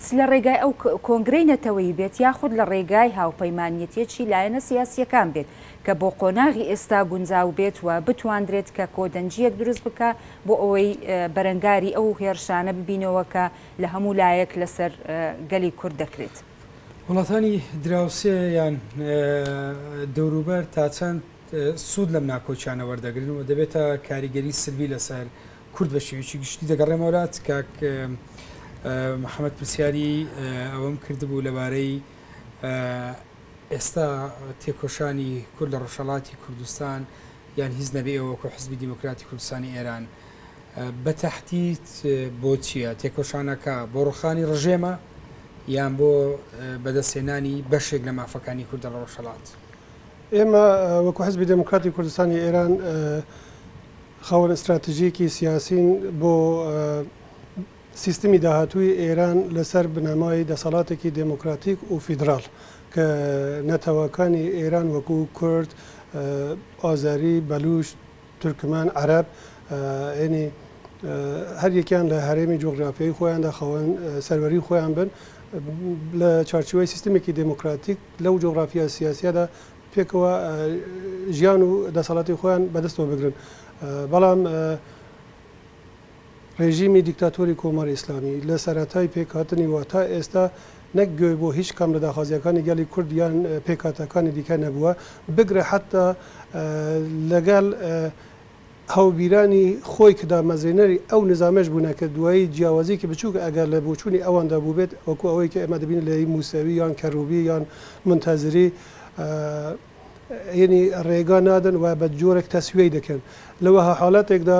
چ لە ڕێگای ئەو کۆنگرەی نەتەوەی بێت یاخود لە ڕێگای هاوپەیمانیەتێکی لایەنە سیاسیەکان بێت کە بۆ قۆناغی ئێستا گونجاو بێت و بتواندرێت کە کۆدەنگیەک دروست بکا بۆ ئەوەی بەرەنگاری ئەو هێڕشانە ببینەوە کە لە هەموو لایەک لەسەر گەلی کورد دەکرێت. وڵاتانی دراوسێ یان دەوروبەر تا چەند سوود لەم ناکۆکیانە وەردەگرن و دەبێتە کاریگەری سلبی لەسەر کورد بە شێوەیەکی گشتی دەگەڕێمەوەلات کاک محەممەد پرسیاری ئەوەم کردبوو لەبارەی ئێستا تێکۆشانی کورد لە ڕۆژهەڵاتی کوردستان یان هیچ نەبێ ئێوە وەکو حزبی دیموکراتی کوردستانی ئێران بە تەحدید بۆ چییە؟ تێکۆشانەکە بۆ ڕوخانی ڕژێمە یان بۆ بەدەستهێنانی بەشێک لە مافەکانی کوردە لە ڕۆژهەڵات؟ ئێمە وەکو حزبی دێموکراتی کوردستانی ئێران خاوەن ستراتیژیەکی سیاسین بۆ سیستمی داهاتووی ئێران لەسەر بنەمای دەسەڵاتێکی دێموکراتیک و فیدراڵ کە نەتەوەکانی ئێران وەکو کورد، ئازەری، بەلووچ، تورکمان، عەرەب، ینی هەر یەکیان لە هەرێمی جوغرافیایی خۆیاندا خاوەن سەروەری خۆیان بن لە چارچیوەی سیستمێکی دموکراتیک لەو جوغرافیا سیاسیەدا پێکەوە ژیان و دەسەڵاتی خۆیان بەدەستەوە بگرن بەڵام ڕێژیمی دیکتاتۆری کۆماری ئیسلامی لە سەرەتای پێکهاتنیوە تا ئێستا نەک گوێ بۆ هیچ کام لە داخوازییەکانی گەلی کورد یان پێکهاتەکانی دیکە نەبووە، بگرە حەتا لەگەڵ هاوبیرانی خۆی کە دامەزرێنەری ئەو نیزامەش بوونە کە دوایی جیاوازییەکی بچووک ئەگەر لە بۆچوونی ئەواندا بووبێت وەکوو ئەوەی کە ئێمە دەبینین لە ی مووسەوی یان کەروبی یان مونتەزری ینی ڕێگا نادەن و بە جۆرێک تەسویەی دەکەن لە وەها حاڵەتێکدا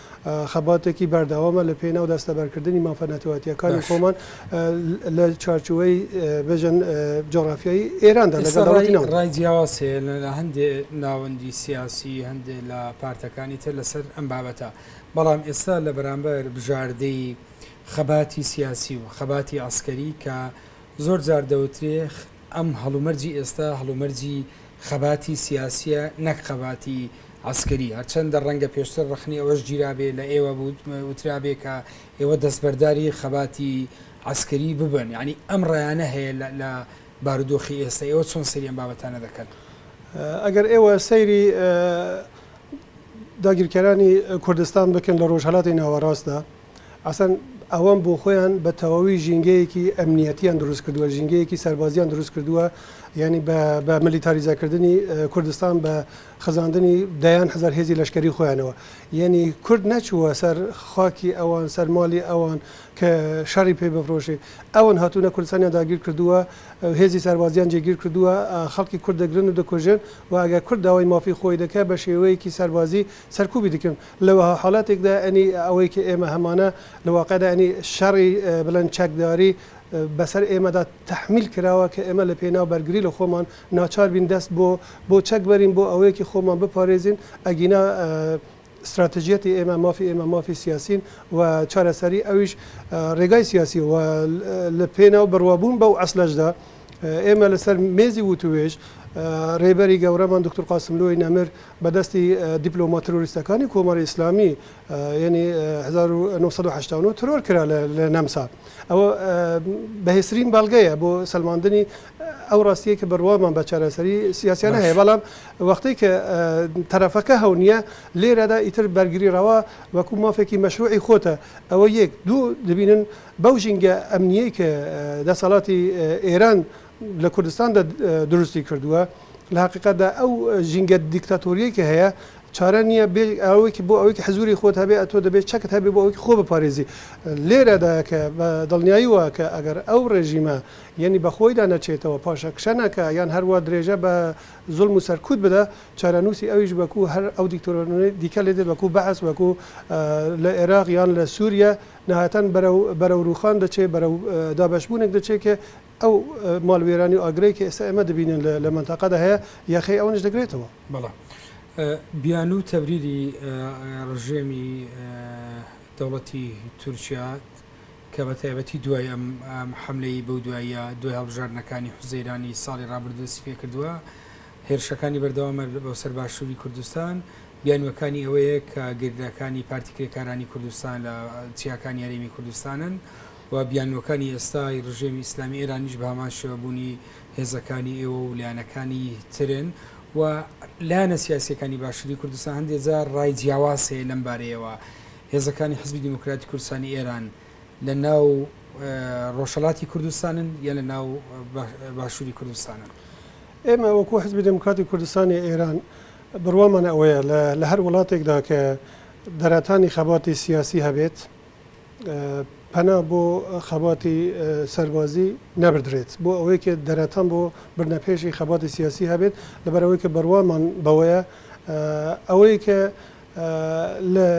خەباتێکی بەردەوامە لە پێناو دەستەبەرکردنی مافە نەتەوەتییەکانی خۆمان لە چوارچوەی بێژن جۆرافیایی ئێراندا لەگەڵ ڕای جیاواز هەیە لە هەندێ ناوەندی سیاسی هەندێ لە پارتەکانی تر لەسەر ئەم بابەتە بەڵام ئێستا لە بەرامبەر بژاردەی خەباتی سیاسی و خەباتی عسکەری کە زۆر جار دەوترێخ ئەم هەڵومەرجی ئێستا هەڵومەرجی خەباتی سیاسیە نەک خەباتی عەسکەری، هەرچەندە ڕەنگە پێشتر ڕەخنەی ئەوەش گیرابێ لە ئێوە وترابێ کە ئێوە دەستبەرداری خەباتی عەسکەری ببن، یانی ئەم ڕایانە هەیە لە بارودۆخی ئێستا، ئێوە چۆن سەیری ئەم بابەتانە دەکەن؟ ئەگەر ئێوە سەیری داگیرکەرانی کوردستان بکەن لە ڕۆژهەلاتی ناوەڕاستدا، ئەسڵەن ئەوان بۆ خۆیان بە تەواوی ژینگەیەکی ئەمنیەتیان دروست کردووە، ژینگەیەکی سەربازیان دروست کردووە، یانی بە ملیتاریزە کردنی کوردستان بە خزاندنی دەیان هەزار هێزی لەشکەری خۆیانەوە، یانی کورد نەچووە سەر خاکی ئەوان، سەر ماڵی ئەوان کە شەڕی پێ بفرۆشێ، ئەوان هاتوونە کوردستانیان داگیر کردووە، هێزی سەربازیان جێگیر کردووە، خەڵکی کورد دەگرن و دەکوژن و ئەگەر کورد داوای مافی خۆی دەکا بە شێوەیەکی سەربازی سەرکوبی دەکەن. لە وەها حاڵەتێکدا ئەوەی کە ئێمە هەمانە لە واقعدا شەڕی بڵێن چەکداری بەسەر ئێمەدا تەحمیل کراوە کە ئێمە لە پێناو بەرگری لە خۆمان ناچار بین دەست بۆ بۆ چەک بەرین بۆ ئەوەیەکی خۆمان بپارێزین ئەگینا ستراتژیەتی ئێمە مافی ئێمە مافی سیاسین و چارەسەری ئەویش ڕێگای سیاسی و لە پێناو بڕوابوون بەو ئەسلەشدا ئێمە لەسەر مێزی وتووێژ رێبەری گەورەمان دکتر قاسملوی نەمر بە دەستی دیپلۆما ترۆریستەکانی کۆماری ئیسلامی یعنی 1970 ترۆر کرا لە نەمسا ئەوە بەهێسرین بەڵگەیە بۆ سلماندنی ئەو ڕاستیە کە بڕوامان بە چارەسەری سیاسیانە هەیە بەڵام وەختی کە تەرەفەکە هەونیە لێرەدا ئیتر بەرگری ڕەوا وەکو مافێکی مەشروعی خۆتە ئەوە یەک دوو دەبینن بەو ژینگە ئەمنییەی کە دەسەڵاتی ئێران لە کوردستاندا دروستی کردووە، لە هەقیقەتدا ئەو ژینگە دیکتاتۆرییەی کە هەیە چارە نییە بێ ئەوەی بۆ ئەوەی حزووری خۆت هەبێ ئەتۆ دەبێ چەکت هەبێ بۆ ئەوەی خۆ بپارێزی. لێرەدایە کە بە دڵنیایی وایە کە ئەگەر ئەو ڕێژیمە یەنی بە خۆیدا نەچێتەوە، پاشەکشە نەکا یان هەر وا درێژە بە زوڵم و سەرکوت بدا، چارەنووسی ئەویش وەکوو هەر ئەو دیکتۆرانەی دیکە لێ دێ وەکوو بەعس، وەکوو لە ئێراق یان لە سووریە نەهایەتان بەرەو بەرەو رووخان دەچێ، بەرەو دابەشبوونێک دەچێ کە ئەو ماڵوێرانی و ئاگرەی کە ئێستا ئێمە دەبینین لە لە مەنتەقەدا هەیە، یەخەی ئەوانیش دەگرێتەوە. بەڵێ. بیانوو تەبریری رژێمی دەوڵەتی تورکیا کە بە تایبەتی دوای ئەم حەملەی بەو دواییە، دوای هەڵبژاردنەکانی حوزەیرانی ساڵی رابردوو دەستی پێ کردووە، هێرشەکانی بەردەوامە بۆ سەر باشووری کوردستان، بیانووەکانی ئەوەیە کە گەریلاکانی پارتی کرێکارانی کوردستان لە چیاکانی هەرێمی کوردستانن و بیانووەکانی ئێستای ڕژێمی ئیسلامی ئێرانیش بە هەمان شێوە بوونی هێزەکانی ئێوە و لایەنەکانی ترن و لایەنە سیاسییەکانی باشووری کوردستان هەندێ جار ڕای جیاواز هەیە لەم بارەیەوە. هێزەکانی حزبی دیموکراتی کوردستانی ئێران، لە ناو ڕۆژهەڵاتی کوردستانن یان لە ناو باشووری کوردستانن؟ ئێمە وەکو حزبی دێموکراتی کوردستانی ئێران بڕوامان ئەوەیە لە هەر وڵاتێکدا کە دەرەتانی خەباتی سیاسی هەبێت پەنا بۆ خەباتی سەربازی نەبدرێت بۆ ئەوەی کە دەرەتان بۆ بردنە پێشی خەباتی سیاسی هەبێت لەبەرەوەی کە بڕوامان بەوەیە ئەوەی کە لە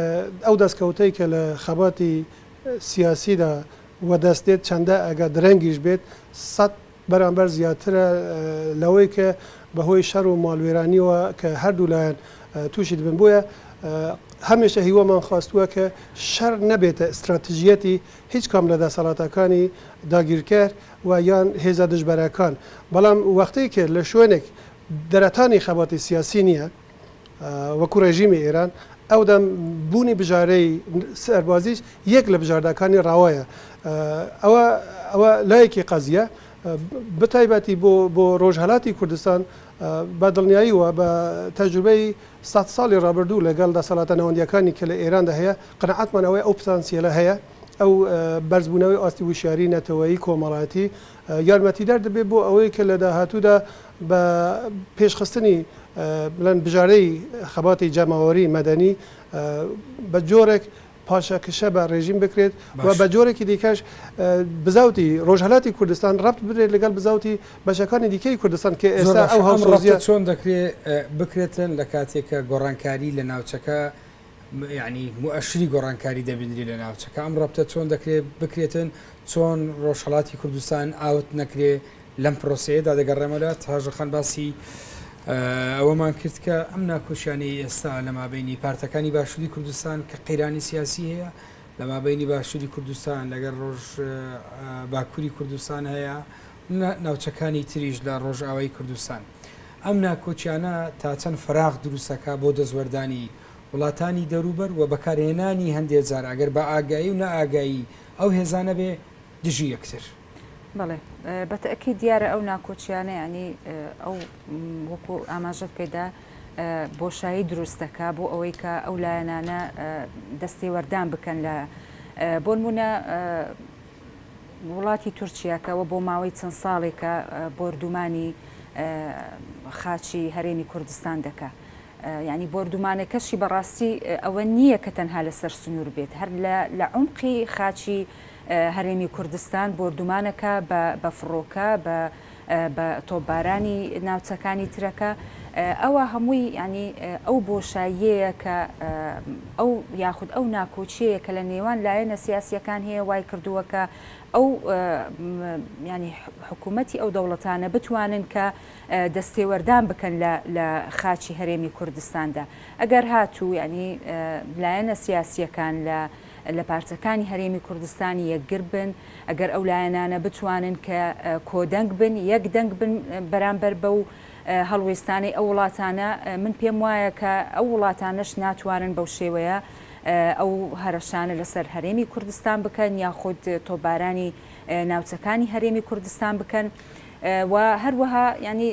ئەو دەستکەوتەی کە لە خەباتی سیاسیدا وەدەست دێت چەندە ئەگەر درەنگیش بێت سەد بەرامبەر زیاترە لەوەی کە بەهۆی شەر و ماڵوێرانیەوە کە هەردوو لایەن تووشی دەبن بۆیە هەمیشە هیوامان خواستووە کە شەر نەبێتە ئستراتژیەتی هیچ کام لە دەسەڵاتەکانی داگیرکەر و یان هێزە دژبەرەکان بەڵام وەختەی کە لە شوێنێک دەرەتانی خەباتی سیاسی نییە وەکو ڕێژیمی ئێران ئەودەم بوونی بژارەی سەربازیش یەک لە بژارداکانی ڕاوایە ئەوە ئەوە لایەکی قەزیە بتایبەتی بۆ بۆ ڕۆژهەلاتی کوردستان بە دڵنیاییوە بە تەجروبەی سە ساڵی ڕابردوو لەگەڵ دەسەڵاتە ناوەندیەکانی کە لە ئێراندا هەیە قەنەعاتمان ئەوەی ئەو پتانسیێلە هەیە ئەو بەرزبوونەوەی ئاستی وشیاری نەتەوەی کۆمەڵایەتی یارمەتیدار دەبێت بۆ ئەوەی کە لە داهاتوودا بە پێشخستنی بڵێن بژارەی خەباتی جەماوەری مەدەنی بە جۆرێک پاشەکشە بە ڕێژیم بکرێت و بە جۆرێکی دیکەش بزاوتی ڕۆژهەلاتی کوردستان ڕەبت بدرێت لەگەڵ بزاوتی بەشەکانی دیکەی کوردستان کە ئێستا ئەو هەڵسۆزیە چۆن دەکرێت بکرێتن لە کاتێکە گۆڕانکاری لە ناوچەکە یانی موئەشری گۆڕانکاری دەبینرێت لە ناوچەکە، ئەم ڕەپتە چۆن دەکرێت بکرێتن، چۆن ڕۆژهەڵاتی کوردستان ئاوت نەکرێت، لەم پرۆسەیەدا دەگەڕێمەوە، تاژە خان باسی ئەوەمان کرد کە ئەم ناکۆکیانەی ئێستا لە مابینی پارتەکانی باشووری کوردستان کە قەیرانی سیاسی هەیە، لە مابینی باشووری کوردستان لەگەر ڕۆژ باکووری کوردستان هەیە، ناوچەکانی تریش لە ڕۆژئاوای کوردستان. ئەم ناکۆکیانە تا چەند فەراغ دروست ئەکا بۆ دەستوەردانی وڵاتانی دەوروبەر و بەکارهێنانی هەندێ جار ئەگەر بە ئاگایی و نا ئاگایی ئەو هێزانە بێ دژی یەکتر. بەڵێ بە تەئکید دیارە ئەو ناکۆکیانە یانی ئەو وەکو ئاماژەت پێ دا بۆشایی دروست دەکا بۆ ئەوەی کە ئەو لایەنانە دەستێوەردان بکەن لە بۆنمونە وڵاتی تورکیا کە بۆ ماوەی چەند ساڵێکە بۆردومانی خاچی هەرێمی کوردستان دەکا یعنی بۆردومانەکەشی بەڕاستی ئەوە نییە کە تەنها لەسەر سنوور بێت هەر لە عمقی خاچی هەرێمی کوردستان بۆردومانەکە بە فڕۆکە بە بە تۆپبارانی ناوچەکانی ترەکە ئەوە هەمووی یانی ئەو بۆشاییەیە کە ئەو یاخود ئەو ناکۆچیەیە کە لە نێوان لایەنە سیاسیەکان هەیە وای کردووە کە ئەو ینی حکوومەتتی ئەو دەوڵەتانە بتوانن کە دەستێوەردان بکەن لە خاچی هەرێمی کوردستاندا ئەگەر هاتوو ینی لایەنە سیاسیەکان لە لە پارچەکانی هەرێمی کوردستان یەکگر بن، ئەگەر ئەو لایەنانە بتوانن کە کۆدەنگ بن، یەک دەنگ بن بەرامبەر بەو هەڵوێستانەی ئەو وڵاتانە، من پێم وایە کە ئەو وڵاتانەش ناتوانن بەو شێوەیە ئەو هەرەشانە لەسەر هەرێمی کوردستان بکەن یاخود تۆپبارانی ناوچەکانی هەرێمی کوردستان بکەن و هەروەها یانی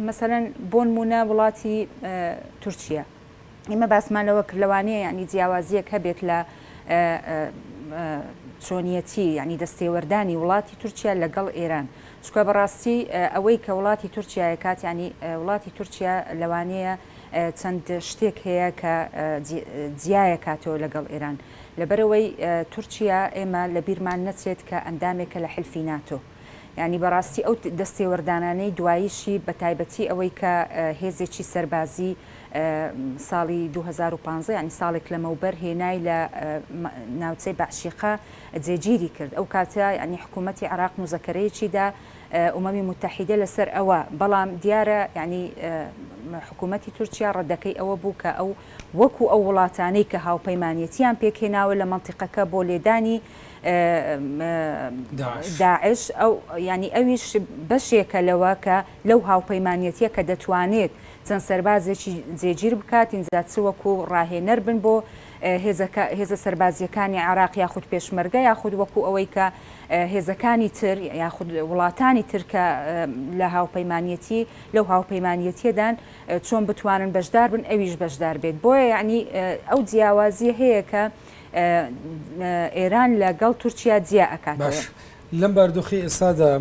مەسەلەن بۆنمونە وڵاتی تورکیا. ئێمە باسمان لەوە کرد لەوانەیە یانی جیاوازیەک هەبێت لە چۆنیەتی یعنی دەستێوەردانی وڵاتی تورکیا لەگەڵ ئێران چکە بەڕاستی ئەوەی کە وڵاتی تورکایە کات ینی وڵاتی تورکیا لەوانەیە چەند شتێک هەیە کە جیایە کاتەوە لەگەڵ ئێران لەبەرەوەی تورکیا ئێمە لە بیرمان نەچێت کە ئەندامێکە لە حلفی ناتۆ. یانی بەڕاستی ئەو دەستێوەردانانەی دواییشی بە تایبەتی ئەوەی کە هێزێکی سەربازی ساڵی دوو هەزار و پازدە یانی ساڵێک لەمەوبەر هێنای لە ناوچەی بەعشیقە جێگیری کرد ئەو کاتە یانی حکوومەتی عراق موزەکەرەیەکی دا ئومەمی متحیدە لەسەر ئەوە بەڵام دیارە یانی حکوومەتی تورکیا ڕەدەکەی ئەوە بوو کە ئەو وەکو ئەو وڵاتانەی کە هاوپەیمانەتیان پێکهێناوە لە مەنتیقەکە بۆ لێدانی داعش، یانی ئەویش بەشێکە لەوە کە لەو هاوپەیمانیەتیە کە دەتوانێت چەند سەربازێکی جێگیر بکات، ئینجا چ وەکو ڕاهێنەر بن بۆ هێزە سەربازیەکانی عێراق یاخود پێشمەرگە یاخود وەکو ئەوەی کە هێزەکانی تر یاخود وڵاتانی تر کە لە هاوپەیمانیەتی لەو هاوپەیمانیەتیەدان چۆن بتوانن بەشدار بن ئەویش بەشدار بێت بۆیە یعنی ئەو جیاوازیە هەیە کە ئێران لە گەڵ تورکیا جیا ئەکاتەوە. باش لەم باردۆخەی ئێستادا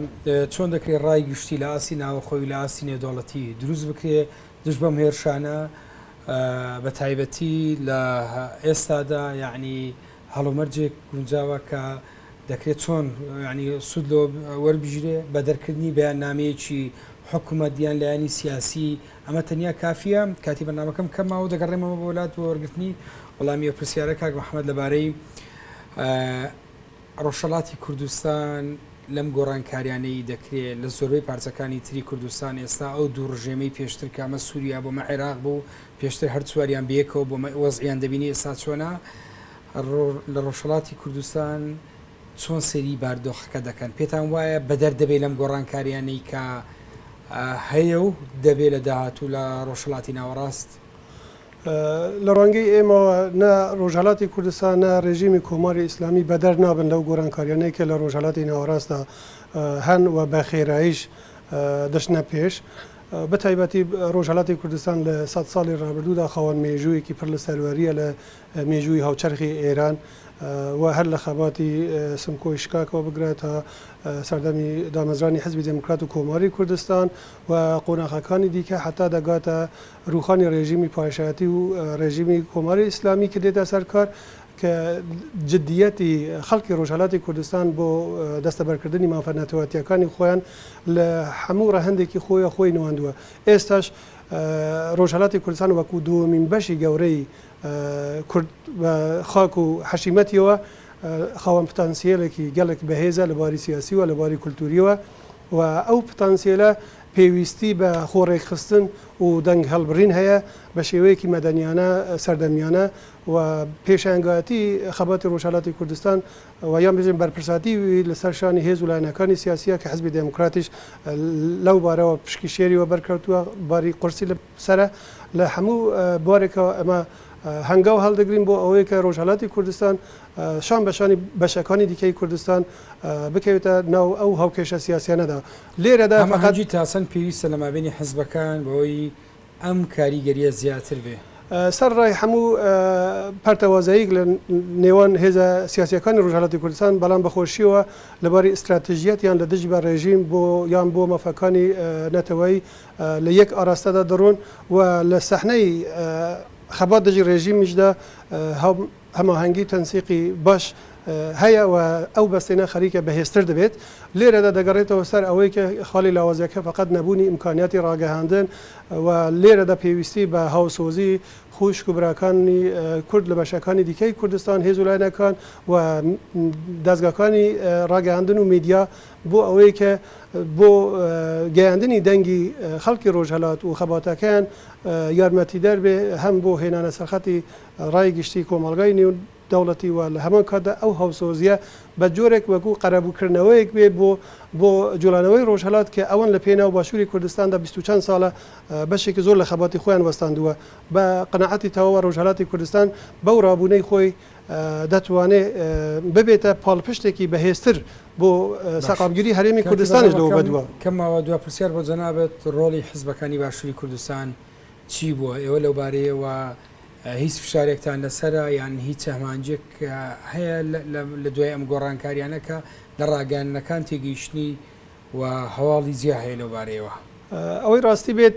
چۆن دەکرێ ڕای گشتی لە ئاستی ناوەخۆی و لە ئاستی نێودەوڵەتی دروست بکرێ دژ بەم هێرشانە بە تایبەتی لە ئێستادا یعنی هەڵومەرجێک گونجاوە کە دەکرێت چۆن ینی سوود لۆ وەربژرێ بە دەرکردنی بەیاننامەیەکی حکوومەت دیان لایەنی سیاسی ئەمە تەنیا کافییە؟ کاتی بەرنامەکەم کەم ماوە و دەگەڕێمەوە بۆ لات بۆ وەرگرتنی وەڵامی ئەو پرسیارە. کاک محەمەد لەبارەی ڕۆژهەڵاتی کوردستان لەم گۆڕانکاریانەی دەکرێ لە زۆربەی پارچەکانی تری کوردستان ئێستا ئەو دوو ڕژێمەی پێشتر کامە سووریا بۆ مە عێراق بوو پێشتر هەر چواریان بەیەکەوە بۆ وەزعیان دەبینی ئێستا چۆنا لە ڕۆژهڵاتی کوردستان چۆن سەیری باردۆخەکە دەکەن؟ پێتان وایە بەدەر دەبێ لەم گۆڕانکارییانەی کە هەیە و دەبێ لە داهاتوو لە ڕۆژهەڵاتی ناوەڕاست؟ لە ڕوانگەی ئێمەوە نە ڕۆژهەڵاتی کوردستان، نە ڕێژیمی کۆماری ئیسلامی بەدەر نابن لەو گۆڕانکارییانەی کە لە ڕۆژهەڵاتی ناوەڕاستدا هەن و بە خێراییش دەچنە پێش. بەتایبەتی ڕۆژهەڵاتی کوردستان لە سەد ساڵی ڕابردوودا خاوەن مێژوویەکی پڕ لە سەروەرییە لە مێژووی هاوچەرخی ئێران و هەر لە خەباتی سمکۆی شکاکەوە بگرە تا سەردەمی دامەزرانی حزبی دێموکرات و کۆماری کوردستان و قۆناخەکانی دیکە حەتا دەگاتە رووخانی رێژیمی پاشایەتی و رێژیمی کۆماری ئیسلامی کە دێتە سەر کار کە جدیەتی خەڵکی رۆژهەلاتی کوردستان بۆ دەستەبەرکردنی مافە نەتەوەتییەکانی خۆیان لە حەموو رەهەندێکی خۆیە خۆی نواندووە ئێستاش رۆژهەلاتی کوردستان وەکوو دووەمین بەشی گەورەی کورد بە خاک و حەشیمەتیەوە خاوەن پتانسیەلێکی گەلێک بەهێزە لە بواری سیاسی و لە بواری کولتووریەوە و ئەو پتانسیەلە پێویستی بە خۆڕێکخستن و دەنگ هەڵبڕین هەیە بە شێوەیەکی مەدەنیانە سەردەمیانە و پێشەنگایەتی خەباتی ڕۆژهەلاتی کوردستان و یان بژێن بەرپرساتی لەسەر شانی هێز و لایەنەکانی سیاسیە کە حزبی دێموکراتیش لەو بارەوە پشکی شێری وەبەرکەوتووە باری قورسی لە سەرە لە هەموو بوارێکەوە ئەمە هەنگاو هەڵدەگرین بۆ ئەوەیە کە ڕۆژهەلاتی کوردستان شان بە شانی بەشەکانی دیکەی کوردستان بکەوێتە ناو ئەو هاوکێشە سیاسیانەدا لێرەدا مەحەجی تاسەن پێویستە لە مابینی حزبەکان بەوەی ئەم کاریگەریە زیاتر بێ. سەر ڕای هەموو پەرتەوازەیک لە نێوان هێزە سیاسیەکانی ڕژهەلاتی کوردستان بەڵام بەخۆشیەوە لەباری ئستراتژیەتیان لە دژ بە ڕێژیم بۆ یان بۆ مەفەکانی نەتەوەی لە یەک ئاراستەدا دەڕۆن و لە سەحنەی خەبات دژی ڕێژیمیشدا هەماهەنگی و تەنسیقی باش هەیە و ئەو بەستێنە خەریکە بەهێزتر دەبێت. لێرەدا دەگەڕێتەوە سەر ئەوەی کە خاڵی لاوازییەکە فەقەت نەبوونی ئیمکانیاتی ڕاگەیاندن و لێرەدا پێویستی بە هاوسۆزی خووشک و براکانی کورد لە بەشەکانی دیکەی کوردستان، هێز و لایەنەکان و دەزگاکانی ڕاگەیاندن و میدیا بۆ ئەوەی کە بۆ گەیاندنی دەنگی خەڵکی ڕۆژهەلات و خەباتەکەیان یارمەتیدەر بێ هەم بۆ هێنانە سەرخەتی ڕای گشتی کۆمەڵگای نێو دەوڵەتی و لە هەمان کاتدا ئەو هاوسۆزیە بە جۆرێک وەکو قەرەبوو کردنەوەیەک بێ بۆ بۆ جوڵانەوەی ڕۆژهەلات کە ئەوان لە پێناو باشوری کوردستاندا بیست و چەند ساڵە بەشێکی زۆر لە خەباتی خۆیان وەستاندووە بە قەناعەتی تەواوە ڕۆژهەلاتی کوردستان بەو ڕابوونەی خۆی دەتوانێ ببێتە پاڵپشتێکی بەهێزتر بۆ سەقامگیری هەرێمی کوردستانیش لەوە بەدوا. کەمەوە دوا پرسیار بۆ جەنابت، ڕۆڵی حزبەکانی باشوری کوردستان چی بووە؟ ئێوە لەو بارەیەوە هیچ فشارێکتان لەسەرە یان هیچ ئەمانجێک هەیە لە دوای ئەم گۆڕانکاریانە کە لە ڕاگەیاندنەکان تێگەیشتنی و هەواڵی جیا هەیە لەو بارەیەوە؟ ئەوەی ڕاستی بێت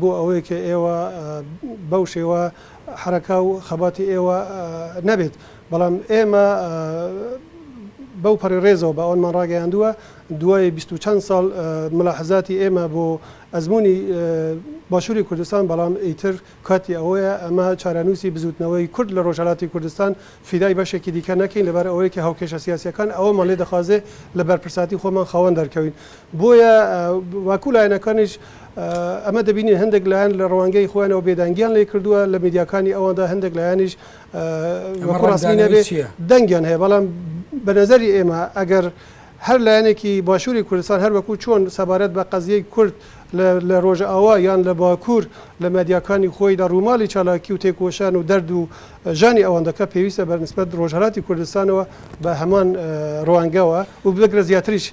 بۆ ئەوەی کە ئێوە بەو شێوە حەرەکە و خەباتی ئێوە نەبێت، بەڵام ئێمە بەو پەڕی ڕێزەوە بە ئەوانمان ڕاگەیاندووە، دوای بیست و چەند ساڵ مولاحەزاتی ئێمە بۆ ئەزموونی باشووری کوردستان، بەڵام ئیتر کاتی ئەوەیە ئەمە چارەنووسی بزووتنەوەی کورد لە ڕۆژهەڵاتی کوردستان فیدای بەشێکی دیکە نەکەین، لەبەر ئەوەی کە هاوکێشە سیاسییەکان ئەوەمان لێ دەخوازێ لە بەرپرسایەتی خۆمان خاوەن دەرکەوین. بۆیە وەکوو لایەنەکانیش، ئەمە دەبینین هەندێک لایەن لە ڕوانگەی خۆیانەوە بێدەنگیان لێ کردووە، لە میدیاکانی ئەواندا هەندێک لایەنیش وەکوو ڕەسمی نەبێ دەنگیان هەیە، بەڵام بە نەزەری ئێمە ئەگەر هەر لایەنێکی باشووری کوردستان هەر وەکوو چۆن سەبارەت بە قەزیەی کورد لە ڕۆژئاوا یان لە باکوور لە میدیاکانی خۆیدا ڕووماڵی چالاکی و تێکۆشان و دەرد و ژانی ئەوان دەکا پێویستە بە نیسبەت ڕۆژهەلاتی کوردستانەوە بە هەمان ڕوانگەوە و بگرە زیاتریش